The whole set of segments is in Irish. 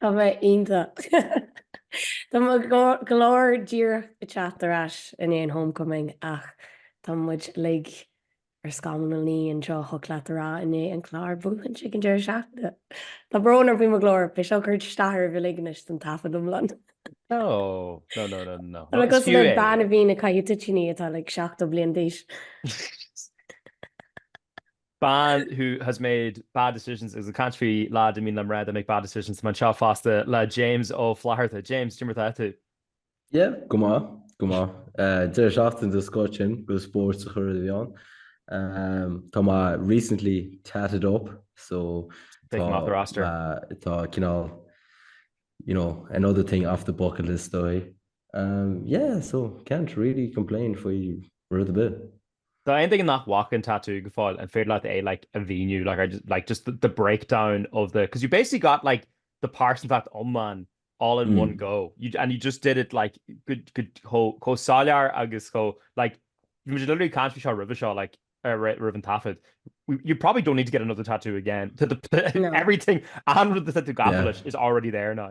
Tá mé iontach. Tá mo ghlór díreach ag teacht ar ais i ndiaidh an homecoming ach tá muid uilig ar scamall a naoi anseo thig leat a rá i ndiaidh an Clár buachaint ag an deireadh seachtaine. Tá brón orm faoi mo ghlór, beidh seo ag cur isteach oraibh uilig anois don taifead iomlán. No, no, no, no, no. Tá mé cosúil le bean a bhíonn ag caitheamh toitíní atá like seachtó bliain d'aois. bean who has made bad decisions agus ag caint faoi leaids a mbíonn mar a they make bad decisions tá mé anseo fosta le James Ó Flatharta. James, cén mar atá tú? Yeah, go maith, go maith. Deireadh seachtaine den scoth sin, agus spóirt le cur i bhfeidhm. Tá mé recently tatted up, so Take him off the roster. tá cineál, you know, another thing off the bucket list dóigh. Umm yeah, so can't really complain faoi rud ar bith. D'aon duine nach bhfaca an tatú go fóill, an féidir leat é like a mhíniú, like I just, like just the the breakdown of the, because you basically got like the pearsantacht iomlán all in one go, you, and you just did it like go, go, chomh, chomh soiléir agus chomh, like, bhí muid literally ag caint faoi seo roimhe seo, like, ar, ri, roimh an taifead, we, you probably don't need to get another tattoo again, tá, tá, No. everything, aon rud atá tú gafa Yeah. leis is already there now.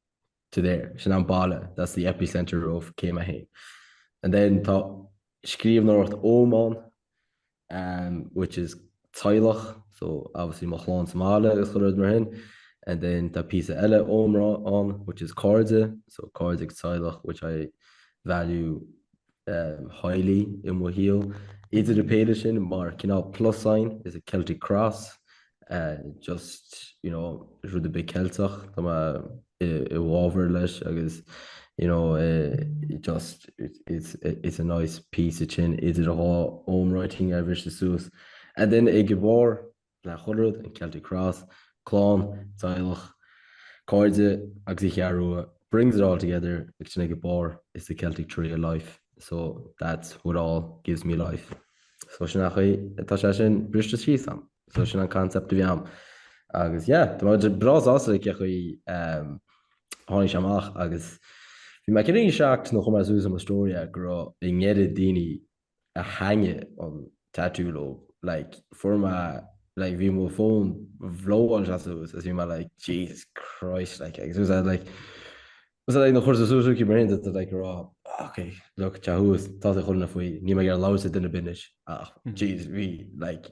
to there, sin am baile, that's the epicentre of céim a haon. And then tá scríobhnóireacht Ogham ann, um, which is teaghlach, so obviously mo chlann sa mbaile agus chuile rud mar sin. And then tá píosa eile Ogham ann, which is cairde, so cairde agus teaghlach, which I value highly i mo shaol. Idir an péire sin, mar cineál plus sign is a Celtic Cross, just, you know, is rud ar bith Ceilteach tá mé i bhfábhar leis agus, you know, just it's a nice piece tinn idir an dá Ogham writing a bhriseadh suas. And then ag an bharr le chuile rud, an Celtic Cross, clann, teaghlach, cairde agus An Cheathrú Rua, brings it all together, ag an mbarr, is the Celtic tree of life, so that's what all gives me life. So sin nach í, tá sé sin briste síos agam. So sin an concept a bhí agam. Agus yeah, tá mé breá sásta le cé chaoi tháinig sé amach agus bhí mé cinnte seacht nár chuir mé suas ar mo story go raibh ag na chéad daoine a spáin mé an tatú dóibh. Like fuair mé like bhí mo fón bhlóáil sé suas agus bhí mé like Jesus Christ like agus was I like was I like nuair a chur sé suas é mar sin do like a rá ok look tá sé thuas tá sé chuile áit faoi níl mé ag iarraidh labhairt le duine ar bith anois ach Jesus bhí like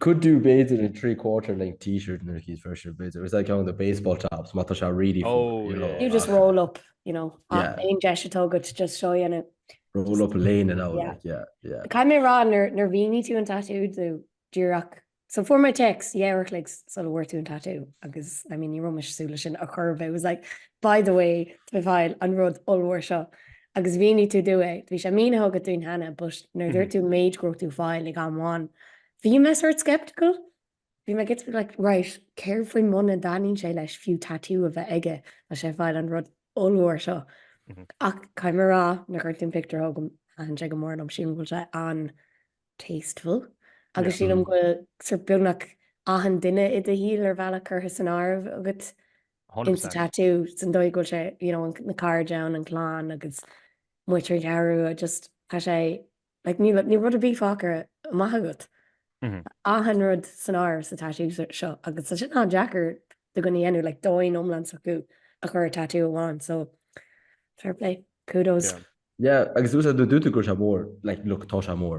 Could do b'fhéidir in three quarter length t-shirt nuair a chaithfir shirt b'fhéidir agus é ceann de baseball tops má tá sé really fuar Oh you know yeah You just roll up, you know, ach yeah aon deis atá agat just show a dhéanamh, roll up léine and all yeah. like yeah yeah. Caithfidh mé a rá nuair a mhínigh tú an tattoo do díreach so fuair mé text yeah uair an chloig sula bhfuair tú an tattoo agus I mean ní raibh mé ag súil leis sin a chur but it was like by the way tá mé ag fáil an rud ollmhór seo Agus mhínigh tú dúinn é. Bhí sé mínithe agat dúinn cheana, but nuair a dúirt tú an méid a raibh tú ag fáil ag am amháin, bhí mé sórt sceptical. Bhí mé ag éirí like right, céard faoi muna dtaitníonn sé leis fiú tattoo a bheith aige, tá sé ag fáil an rud ollmhór seo. Ach caithfidh mé a rá, nuair a chuir tú an pictiúr chugam, thaitin sé go mór liom, sílim go bhfuil sé an-tasteful agus sílim go bhfuil sórt beagnach achan duine i do shaol ar bhealach curtha san áireamh agat. insa tattoo san dóigh go bhfuil sé you know na cairde ann an clann agus muintir an Cheathrú just tá sé like níl níl rud ar bith fágtha amach agat achan rud san áireamh sa tattoo seo agus tá sin an-deacair do dhuine a dhéanamh like domhan iomlán s'acu a chur ar tattoo amháin so fair play kudos. yeah agus uh nó dúirt tú go raibh sé mór like look tá sé mór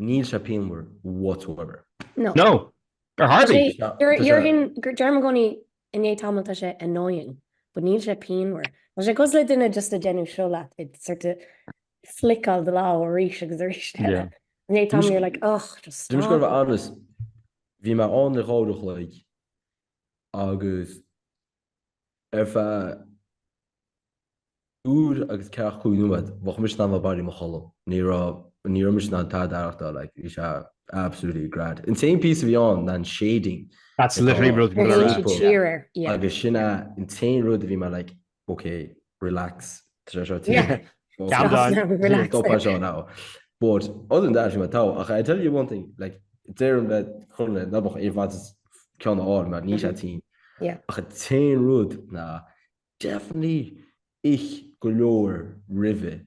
Níl sé pianmhar whatsoever. No. No! Hardly! Deirim i gcónaí i ndiaidh tamaill tá sé annoying, but níl sé pianmhar. Tá sé cosúil le duine just ag déanamh seo leat, it's sort of flickeáil do lámh arís agus arís eile. Yeah. I ndiaidh tamaill you're like, ugh, just stop. Bhí mé ann le dhá uair a chloig agus Ar feadh uair agus ceathracha cúig nóiméad, bheadh mise in ann a bheith i mo chodladh. Ní raibh, ní raibh mise in ann tada a aireachtáil, like, bhí sé absolutely grand. An t-aon piece a bhí ann ná an shading. That's literally rud a bhí mé a rá. Agus sin é an t-aon rud a bhí mé like, okay, relax But other than that, you went out. I tell you one thing, like Darren bet Conley, no bach evans cean á mar ní sé tí. A chu te rud na deafní ich go leir rive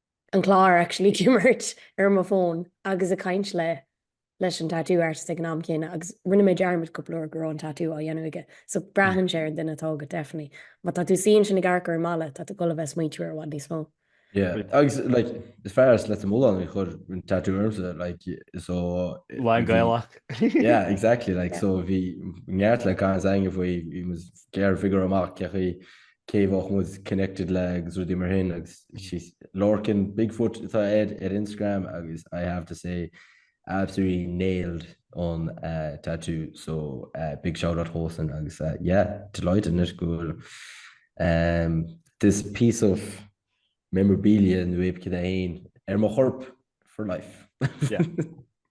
an clár actually ag imirt ar m'fhón agus ag caint le leis an tattoo artist ag an am céanna agus rinne mé dearmad cúpla uair go raibh an tattoo á dhéanamh aige so braitheann sé ar an duine atá agat definitely. Má tá tú suíonn sin i gcarrcur i mbaile tá tú ag dul a bheith ag smaoitiú air i bhfad níos mó. Yeah agus like fear as Leitir Mealláin a chuir an tattoo ormsa like so Bheinn Gaelach. yeah exactly like so bhí neart le caint againn faoi bhí muid ag figure amach céachaí cé bheadh muid connected le agus rudaí mar sin agus she's lorcan big foot atá air ar Instagram agus I have to say absolutely nailed an uh, tattoo so uh, big shout out Hosen agus uh, yeah delighted in it go um, this piece of memorabilia nu éip cid é ar mo chorp for life yeah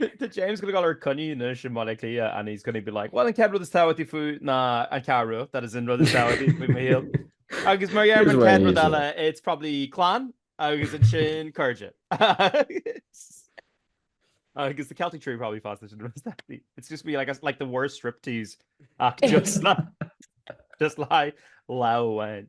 Tá James gonna go dtí a choinne anois i mBaile Átha Cliath and he's gonna be like well an chéad rud is tábhachtaí faoi ná an Cheathrú that is an rud is tábhachtaí faoi mo shaol agus mar gheall ar an chéad rud eile it's probably clann agus ansin cairde agus the Celtic tree probably faoi sin it's just be like, like the worst striptease act just like just like lá amháin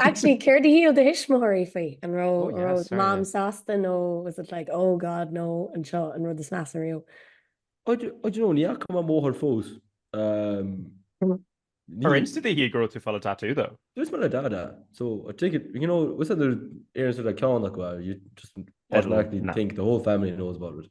Actually, céard a shíl do thuismitheoirí faoi? An raibh, oh yeah, mom sásta nó was it like, oh god, no, an seo an rud is measa riamh? I don't know, ní fhaca mo mháthair fós. Um, Ar inis tú di go raibh tú ag fáil tatú though? Dúirt mé le dada, so I take it, you know, once a déarfas tú le ceann acu, you just automatically think the whole family knows about it.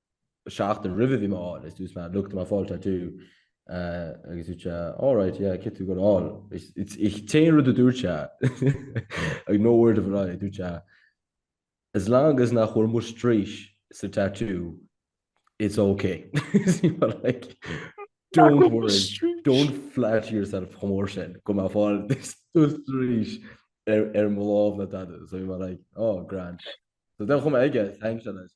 seachtain roimhe bhí mé á fháil is dúirt mé look tá mé ag fáil tattoo agus dúirt sé all right yeah céard tá tú goil a fháil is sé an rud a dúirt sé like no word of a lie dúirt sé as long as nach bhfuil mo straois sa tattoo it's ok is bhí mé like don't worry don't flatter yourself chomh mór sin go bhfuil mé ag fáil do straois ar mo lámh ina tattoo so bhí mé like oh grand so then chum aige thanks Alice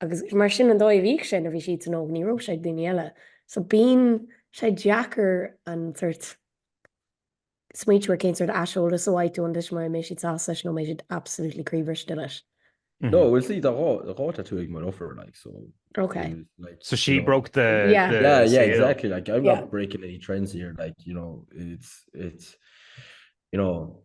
Agus mar sin an dóigh a bhíodh sé nuair a bhí siadsan óg ní raibh sé ag daoine eile. So bíonn sé deacair an sort smaointiú ar cén sort aiseolas a bhfaighidh tú iontu is mar a mbeidh siad sásta leis nó an mbeidh siad absolutely croíbhriste leis. No, bhuel see, tá dhá tattoo ag mo dheirfiúr like so Ok. it was like, So she you know, broke the, Yeah. the yeah, yeah, seal. exactly. Like I'm Yeah. not breaking any trends here. Like you know, it's it's you know,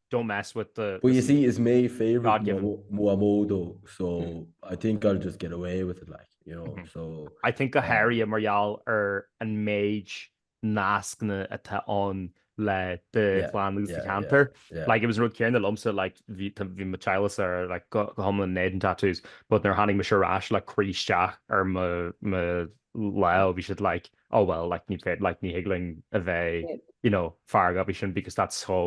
Don't mess with the. But you see, is mé favourite mo Mhamó though, so I think I'll just get away with it, like, you know, so. I think go háirithe mar gheall ar an méid nascna atá ann le do chlann agus do cheantar. Like, it was an rud céanna liomsa, like, bhí mo theaghlachsa, like, go hiomlán in éadan tattoos, but nuair a tháinig mise ar ais, like, cuireadh isteach ar mo lámh, bhí siad, like, oh well like ní féidir like ní thig linn a bheith you know feargach faoi sin because that's so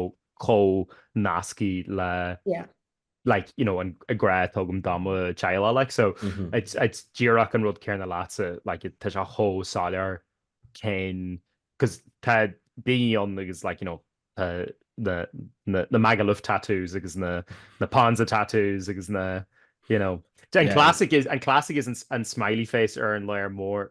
chomh nasctha le yeah like you know an grá atá agam do mo theaghlach like so mm -hmm. it's it's díreach an rud céanna leatsa like tá sé chomh soiléir cén 'cause tá daoine ann agus like you know uh, na na na Magaluf tattoos agus na na Ponza tattoos agus na you know an yeah. classic is an classic is an, an smiley face ar an ladhar mór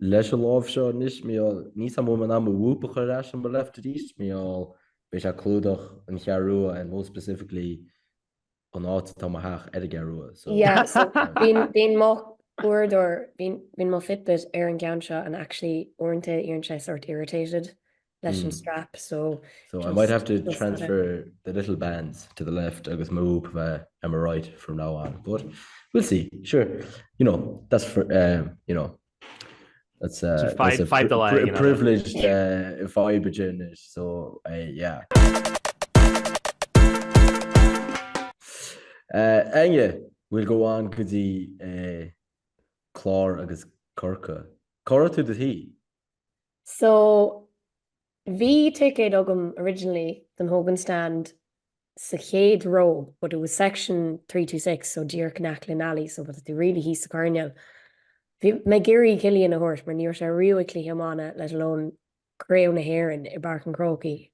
Leis an lámh seo anois, mar gheall níl a fhios agam an mbeidh mé in ann mo Whoop a chur ar ais on my left wrist, mar gheall beidh sé ag clúdach an Cheathrú Rua and more specifically an áit atá mo theach ar an gCeathrú Rua, so. Yeah, so bíonn mo uaireadóir, bíonn mo fitbit ar an gceann seo and actually uaireanta éiríonn sé sort irritated leis an strap so So I might have to transfer the little bands to the left agus move uh, am right from now on but we'll see sure you know that's for um, you know that's uh, so five, that's a five pri delay, pri you know, privileged uh, fiber journey so uh, yeah Uh, Aine bhfuil go bháin go dtí eh, chlár agus corca. Cora tú de hí? So, bhí ticéad agam originally don Hogan Stand sa chéad ró but it was section three two six so díreach in aice le Nally so bhí tú really thíos sa choirnéal. Bhí mé ag iarraidh Cillian a thabhairt mar ní raibh sé riamh ag cluiche iomána let alone Craobh na hÉireann i bPáirc an Chrócaigh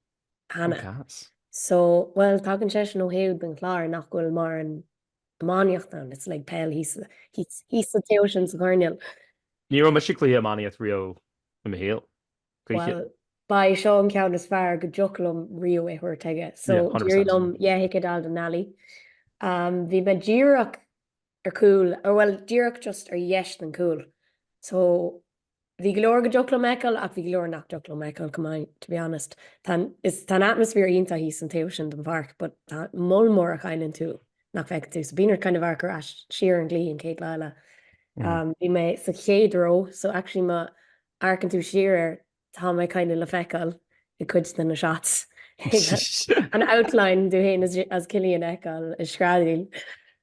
cheana. So, bhuel, tagann seisean ó thaobh den Chlár nach bhfuil mórán iománaíocht ann, it's like peil thíos sa taobh sin sa choirnéal. Ní raibh mise ag cluiche iománaíocht riamh i mo shaol. Bhuel, ba é seo an ceann is fearr go dtiocfadh liom riamh é thabhairt chuige. So d'éirigh liom yeah ticéad a fháil don Nally. Um, bhí mé díreach ar cúl, or well díreach just ar dheis den cúl. So Bhí go leor go dtiocfadh liom a fheiceáil ach bhí go leor nach dtiocfadh liom a fheiceáil chomh maith, to be honest. Tá an atmaisféar iontach thíos an taobh sin den pháirc but tá moll mór a chailleann tú nach bhfeiceann tú. So bíonn ort kind of amharc ar ais siar an cluiche an chéad lá eile. Bhí mé sa chéad ró so actually má amharcann tú siar air tá mé kind of le feiceáil i gcuid de na shots. An outline díot féin as Cillian a fheiceáil ag screadaíl.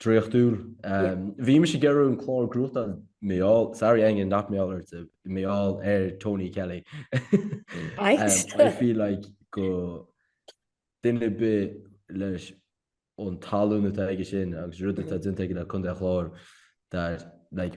draíochtúil. Bhí mise ag iarraidh an Clár go gcrochtá meall, sorry iongain not meall ar tib, meall ar Tony Kelly. I feel like go duine ar bith leis an tallann atá aige sin agus rud atá déanta aige le Contae an Chláir that like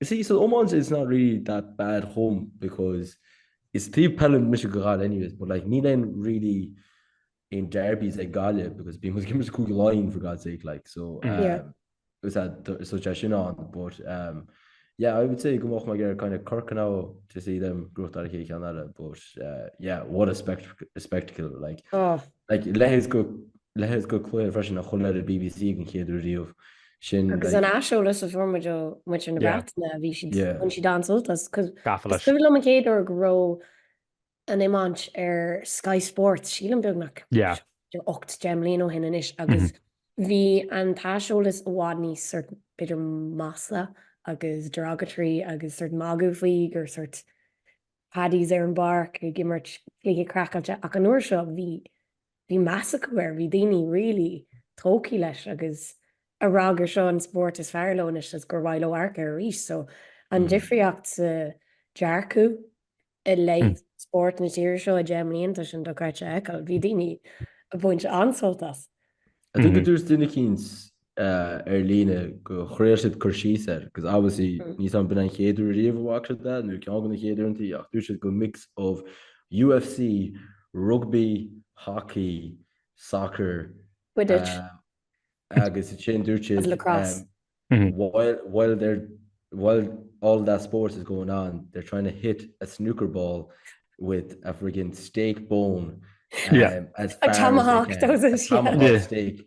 You see, san iomáint it's not really that bad home because is taobh peile mise go Gaillimh anyways but like níl aon really aon derbies ag Gaillimh because bíonn chuige mise Cúige Laighean for God's sake like so um, yeah. is that so te sin an but um, yeah, I would say go mach mar kind of Cork now to see them growth ar ché cean eile but uh, yeah, what a, spect a spectacle like oh. like lehes go lehes go cloir freisin a chun ar a BBC an chéadú riomh sin. Agus an aiseolas a fuair muid ó muintir na Breataine, bhí siad, bhain siad an-sult as. 'Cause is cuimhin liom an chéad uair a raibh an iomáint ar Sky Sports, sílim beagnach 18 mbliana ó shin anois, agus bhí an t-aiseolas i bhfad níos sórt b'fhéidir masla agus derogatory agus sórt magadh faoi gur sórt paddies ar an bpáirc ag imirt cluiche craiceáilte. Ach an uair seo, bhí bhí meas acu air, bhí daoine really tógthaí leis agus ag rá gur seo an spórt is fearr leo anois agus gur mhaith leo amharc air arís. So, an difríocht sa dearcadh i leith spórt na tíre seo i 10 mblianta sin dochreidte é a fheiceáil, bhí daoine ag baint an-sult as. I think go ndúirt duine eicínt ar líne go ndearna siad cur síos air because obviously níos, it's been an chéad uair riamh a watcháil that nó ceann de na chéad uaireanta ach dúirt siad go mix of UFC, rugbaí, hockey, soccer, Quidditch. eh, agus sin dúirt siad Agus lacrosse. eh, while, while, they're, while all that sports is going on they're trying to hit a snooker ball with a friggin' steak bone. Yeah. um, as far as they Tomahawk, can. those is- A tomahawk Yeah. steak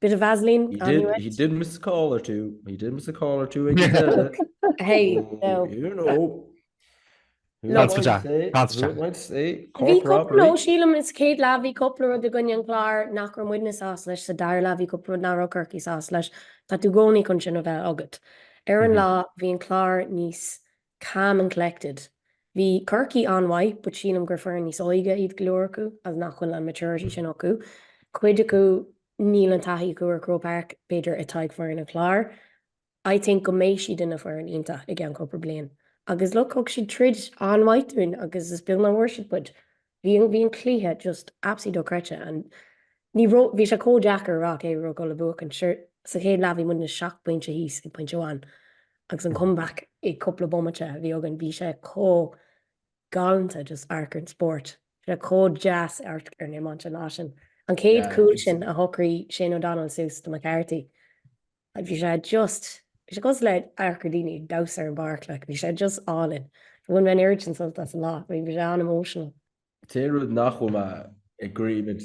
Bit of Vaseline He on did, your he head. did miss a call or two. He did miss a call or two. ag an deireadh. Hey, Oh, no. You know. Who No, am I to Constance, say? Constance. Who am I to say? Bhí Cork cúpla, nó robbery. sílim is céad leath, bhí cúpla rud i gcoinne an Chláir nach raibh muidne sásta leis, sa dara leath bhí cúpla rud nach raibh Corcaigh sásta leis. Tá tú i gcónaí chun sin a bheith agat. Ar an Mhm. lá, bhí an Clár níos calm and collected. Bhí Corcaigh an-mhaith but sílim gur foireann níos óige iad go leor acu agus nach bhfuil an maturity sin acu. Cuid acu níl an taithí acu ar Croke Park, b'fhéidir atá ag foireann an Chláir. I think go mbeidh siad ina foireann iontach i gceann cúpla bliain. Agus look, thug siad troid an-mhaith dúinn agus is beag nach bhfuair siad poid. bhí an, bhí an cluiche just absolutely dochreidte and ní raibh, bhí sé chomh deacair a rá cé a raibh ag gabháil a bhuachaint, sure sa chéad leath bhí muidne seacht bpointe thíos ag pointe amháin agus an comeback i cúpla bomaite a bhí againn, bhí sé chomh galánta just amharc ar an spórt, bhí sé chomh deas amharc ar an iomáint an lá sin. An chéad chúl sin a shocraigh Shane O'Donnell suas do McCarthy, Bhí sé just, bhí sé cosúil le amharc ar daoine ag damhsa ar an bpáirc, like, bhí sé just álainn. Bhain mé an oiread sin sult as an lá, bhí sé an-emotional. An t-aon rud nach bhfuil mé in agreement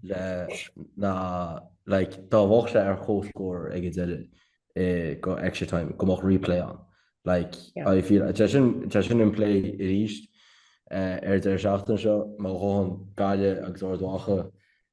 le ná like, dá mbeadh sé ar comhscór ag an deireadh eh, go extra time, go mbeadh replay ann. Like, Yeah. I feel, tá sin, tá sin in play arís eh, ar deireadh seachtaine seo, má ghabhann Gaillimh agus Ard Mhacha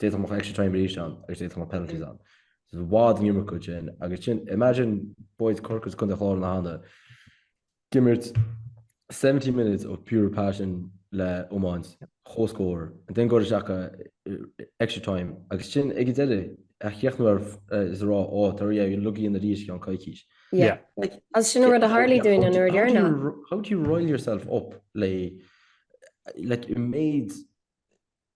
D'fhéadfadh go mbeadh extra time arís ann agus d'fhéadfadh go mbeadh penalties ann. Is i bhfad an iomarca sin agus sin, imagine boys Chorcaí is Contae an Chláir ann ag imirt 70 minutes of pure passion le iomáint, comhscór, and then gabháil isteach go extra time agus sin ag an deireadh a chríochnú ar is a rá oh tar ar ais chugainn arís i gceann coicís. Yeah. Like, is sin an rud a tharlaigh dúinn an uair dheireanach. How do you rile yourself up le like an méid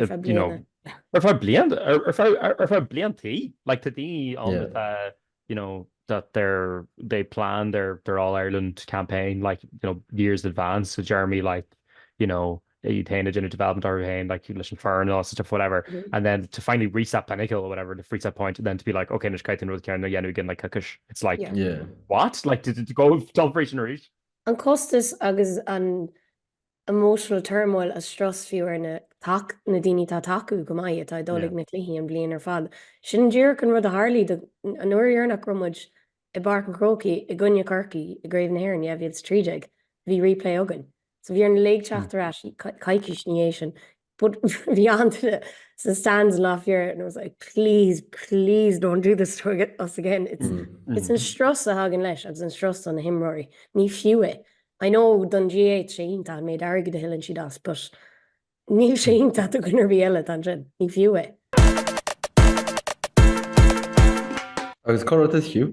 Ar feadh bliana. Ar feadh bliantaí. Like, tá daoine ann atá, you know, that they're, they plan their, their All-Ireland campaign, like, you know, years in advance, so Jeremy, like, you know, iad féin ag déanamh development orthu féin, like, leis an foireann and all that stuff, whatever. And then to finally reach that pinnacle or whatever, to reach that point, and then to be like, OK, anois caithfidh tú an rud céanna a dhéanamh again, like, coicís. It's like, what? Like, to go dul frísin arís? An costas agus an emotional turmoil is strus fiú ar na tac na daoine tá tacú go maith atá ag dul ag na cluichí an bhliain ar fad. Sin an díreach an rud a tharlaigh dúinn an uair dheireanach a raibh muid i bPáirc an Chrócaigh i gcoinne Chorcaí i gCraobh na hÉireann 2013. Bhí replay againn. So bhí orainn uilig teacht ar ais, coicís ina dhiaidh sin. But bhí an-duine sa stands last year and I was like please, please don't do this to us again. It's an strus a thagann leis agus an strus do na himreoirí. Ní fiú é. I know don GAA tá sé iontach an méid airgid a thuilleann siad as but níl sé iontach do dhuine ar bith eile atá ansin. Ní fiú é. Agus cad rud is fiú?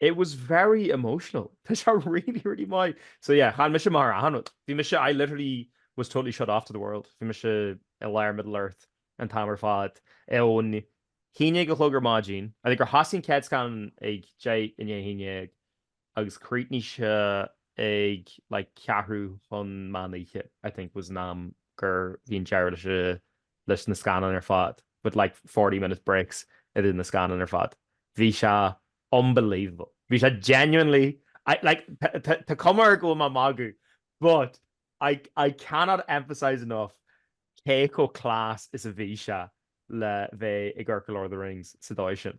It was very emotional. Tá sé really, really maith. So yeah, chonaic mise marathon. Bhí mise, I literally was totally shut off to the world. Bhí mise i lár Middle Earth an t-am ar fad. Ón haon déag a chlog ar maidin, I think gur thosaigh an chéad scannán ag deich i ndiaidh a haon déag, agus críochnaigh sé ag like ceathrú chun meán oíche, I think was an am gur bhí an deireadh leis an leis na scannáin ar fad, with like forty minute breaks idir na scannáin ar fad. Bhí sé unbelievable. Bhí sé genuinely, I, like tá, tá cuma air go bhfuil mé ag magadh but I, I cannot emphasise enough cé chomh class is a bhí sé le bheith ag amharc ar Lord of the Rings sa dóigh sin.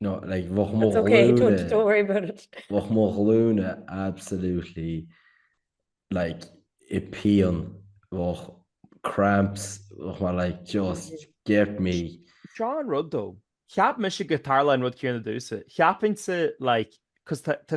No, like, bheadh mo ghlúine... Bheadh mo ghlúine absolutely, like, i pian, bheadh cramps, bheadh mo, like, just get me. Seo an rud, though. Cheap mise go dtarlódh an rud céanna domhsa. Cheapfainnse, like, cos tá, tá,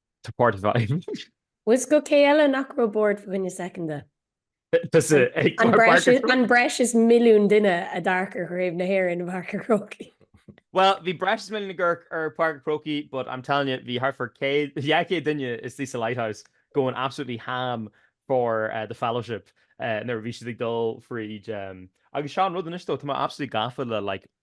Tá páirt a bheith aige. Bhfuil fhios agat cé eile nach raibh bored fá choinne second de? Tusa ag An breis is milliún duine a d'amharc ar Chraobh na hÉireann i bPáirc an Chrócaigh. Bhuel, bhí breis is milliún ag amharc ar Páirc an Chrócaigh but I'm telling you bhí thart fá céad, dhá chéad duine istigh sa Lighthouse going absolutely ham for the Fellowship nuair a bhí siad ag dul fríd agus seo an rud anois though tá mé absolutely gafa le like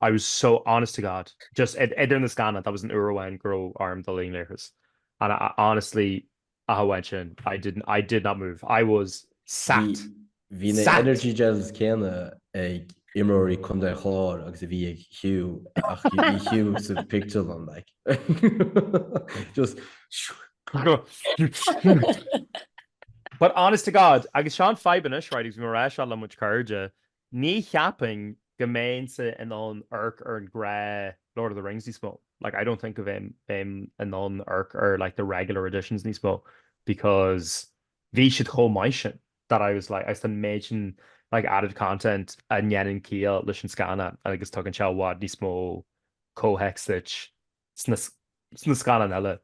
I was so, honest to God, just idir na scannáin, that was an uair amháin go raibh orm dul chun leithris, and I honestly, ach amháin sin, I did, I did not move. I was sat. Bhí na energy gels céanna ag imreoirí Contae Chláir agus a bhí ag Hugh, ach bhí Hugh sa pictiúrlann, like, just But honest to God, agus seo an fadhb anois, right, agus bhí mé ag rá seo le mo chuid cairde, Ní cheapfainn go mbeinnse in ann amharc ar an ghnáth Lord of the Rings níos mó, like, I don't think go bheinn, bheinn in ann amharc ar like the regular editions níos mó because bhí siad chomh maith sin that I was like, agus an méid sin like added content a dhéanann ciall leis an scannán agus tugann sé i bhfad níos mó comhthéacs duit. sna scannáin eile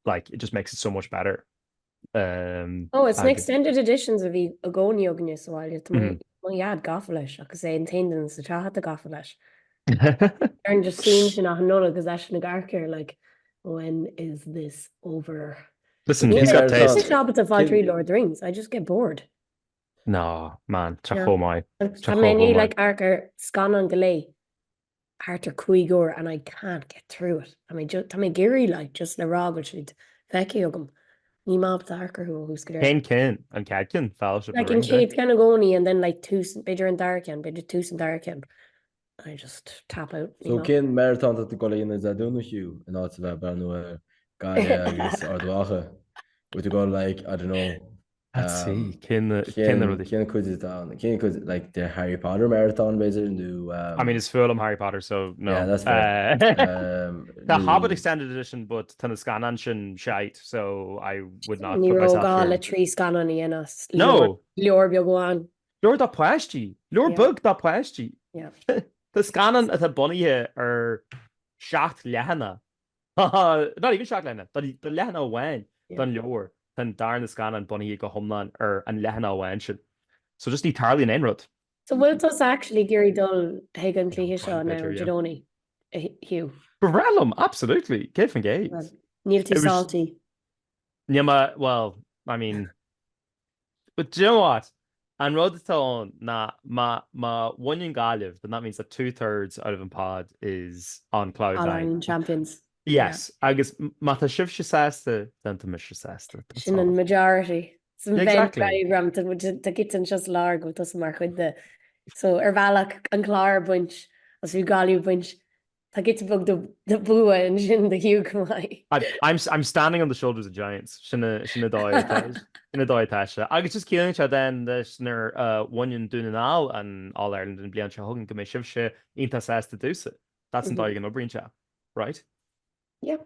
like it just makes it so much better um, oh it's na extended editions a bhí i gcónaí againne sa bhaile tá mm-hmm. mo dhaid gafa leis agus é an t-aon duine sa teach atá gafa leis ar an just sin sin nach nóla agus eisean ag amharc air like when is this over Listen, he's got taste. Níl mé ábalta fáil trí Lord of the Rings. I just get bored. No, man, tá sé chomh maith. Thriail mé like amharc ar scannáin go léir. thart ar chúig uair and I can't get through it. Tá mé just, tá mé ag iarraidh like just le rá go bhfuil siad feicthe agam. Níl mé ábalta amharc orthu ó thús go deireadh. Cén ceann? An céad ceann? Fellowship na Ring. Like an céad ceann i gcónaí and then like tús, b'fhéidir an dara ceann, b'fhéidir tús an dara ceann. And I just tap out, ní maith. So cén marathon atá tú ag dul a dhéanamh Dé Domhnaigh, Hugh, in áit a bheith ag breathnú ar Gaillimh agus Ard Mhacha? Bhfuil tú ag dul like, I don't know, Let's see. Cén cén rud é? Cén cuid is dá ann? Cén cuid, like, de Harry Potter marathon b'fhéidir, nó um... I mean, is fuath liom Harry Potter, so no. Yeah, that's fair. um, Tá nó... Hobbit Extended Edition, but tá na scannáin sin shite, so I would not put myself through. Ní raibh gá le trí scannán a dhéanamh as. No. Leabhar, leabhar beag amháin. Leabhar do páistí. Yeah. Leabhar beag do páistí. Yeah. Tá scannán atá bunaithe ar seacht leathanach. Not even seacht leathanach, tá leathanach amháin den leabhar, tá an darna scannán bunaithe go hiomlán ar an leathanach amháin sin. So just ní tarlaíonn aon rud. So bhfuil tusa actually ag iarraidh dul chuig an cluiche seo now, Dé Domhnaigh, Hugh? Ba bhreá liom, absolutely, 100%. Níl tú salty? Níl mé, well, I mean, But do you know what? An rud atá ann ná má bhaineann Gaillimh, then that means that two thirds out of an pod is on cloud nine. All-Ireland champions. Yes, agus má tá sibhse sásta, then tá mise sásta. Sin an majority. Sa Venn diagram, tá giota anseo sa lár go bhfuil tusa mar chuid de. So, ar bhealach, an Clár ag baint, agus bhí Gaillimh ag baint Tá giota beag de bua ansin do Hugh chomh maith. I'm standing on the shoulders of giants, sin an dóigh atá sé. Agus just ciallaíonn sé then leis nuair a bhaineann Dún na nGall an All Ireland an bhliain seo chugainn go mbeidh sibhse iontach sásta domhsa. That's an dóigh a n-oibríonn sé. Right? Yep.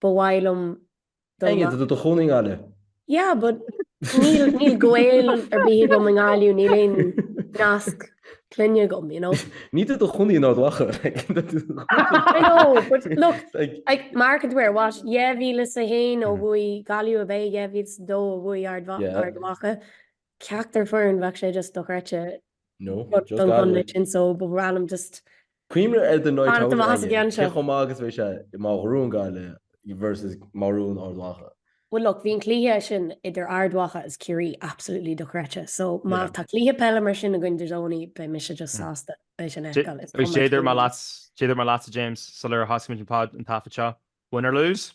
Ba mhaith liom dul Aonghus, tú i do chónaí i nGaillimh. Yeah, but níl, níl gaol ar bith agam i nGaillimh, níl aon nasc clainne agam, you know. Níl tú i do chónaí in Ard Mhacha, like. I know, but look, like, mark it where, what, 2001 ó bhuaigh Gaillimh ab ea, 2002 ó bhuaigh Ard Mhacha, ceachtar foireann, bheadh sé just dochreidte. No, just Don ghunna Gaelic. sin so but random just cuimhnigh ar the Night Fanacht Out amach as an aige. gceann seo. Cé chomh maith agus a bheadh sé má bhuann Gaillimh versus má bhuann Ard Mhacha. Well look, bhí an cluiche sin idir Ard Mhacha agus Ciarraí absolutely dochreidte so má Yeah. tá cluiche peile mar sin againn there's only beidh mise just sásta é sin a Dé- fheiceáil, it's Agus coming dúirt to mé me. leat, dúirt mé leatsa James, sular thosaigh muid an pod an taifead seo, win or lose?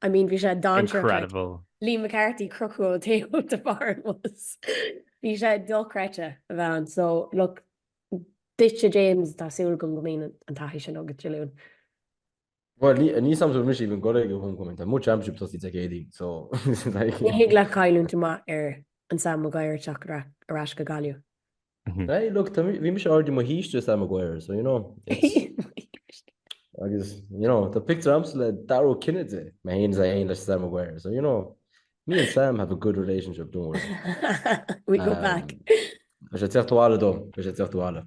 I mean bhí sé dainséarach like Incredible. Liam McCarthy crochadh ón taobh de bharr an bhus. Bhí sé dochreidte a bheith ann so look duitse James tá súil agam go mbíonn an taithí sin agat Dé Luain. Bhuel ní ní shamhlaíonn mise even gur ag an homecoming tá mo championship ag tosaí Dé Céadaoin so like. Ní thig leat cailliúint amach ar an Sam Maguire ag teacht ar ais go Gaillimh. Hey, look, bhí mise already i mo shuí istigh i Sam Maguire, so you know. agus, you know, tá picture agamsa le Dara Ó Cinnéide, mé féin is é féin le Sam Maguire, so you know, me and Sam have a good relationship, don't worry. We go um, back. Tá sé ag teacht abhaile dom, tá sé ag teacht abhaile.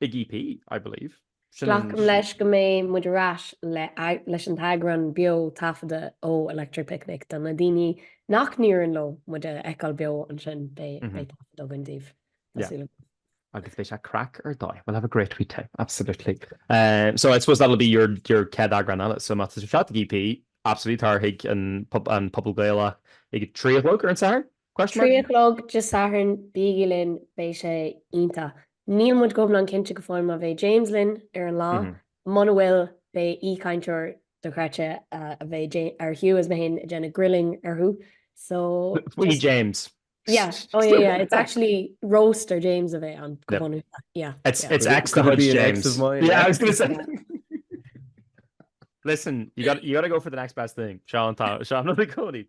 Big EP, I believe. Glacaim leis go mbeidh muid ar ais leis an t-eagrán beo taifeadta ó Electric Picnic do na daoine nach n-éiríonn leo muid a fheiceáil beo ansin, beidh taifead againn daoibh, tá súil agam. Agus beidh sé craic ar dóigh, we'll have a great wee time, absolutely. So I suppose that'll be your chéad eagrán eile, so má tá sibh thart ag EP, absolutely, tar chuig an Puball Gaeilge ag a trí a chlog ar an Satharn? Question Trí a mark? chlog Dé Sathairn, bígí linn, beidh sé iontach. Níl muid go hiomlán cinnte go fóill má bheidh James linn ar an lá. Muna bhfuil, beidh aoichainteoir dochreidte a bheidh James, ar Hugh is mé féin ag déanamh grilling orthu. So, Faoi just, James. yeah, oh yeah, yeah, it's actually roast ar James a bheidh ann go bunúsach. Yeah, It's, yeah. it's ex de Could it chuid be an ex James. of mine? Yeah, I was going to say. Listen, you got you got to go for the next best thing. Sean, Tom, Sean, no, Cody.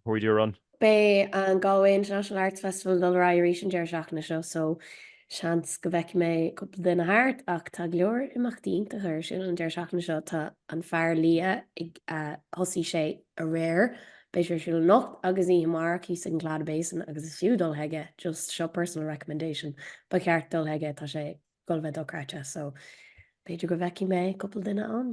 Before we do a run. Beidh an Galway International Arts Festival ag dul ar aghaidh arís an deireadh seachtaine seo so seans go bhfeicfidh mé cúpla duine thart ach tá go leor imeachtaí iontacha ar siúl an deireadh seachtaine seo. Tá an Fear Liath ag thosaigh sé aréir, beidh sé ar siúl anocht agus oíche amárach thíos ag an Claddagh Basin agus is fiú dul chuige, just seo personal recommendation, ba cheart dul chuige, tá sé ag dul a bheith dochreidte so b'fhéidir go bhfeicfidh mé cúpla duine ann.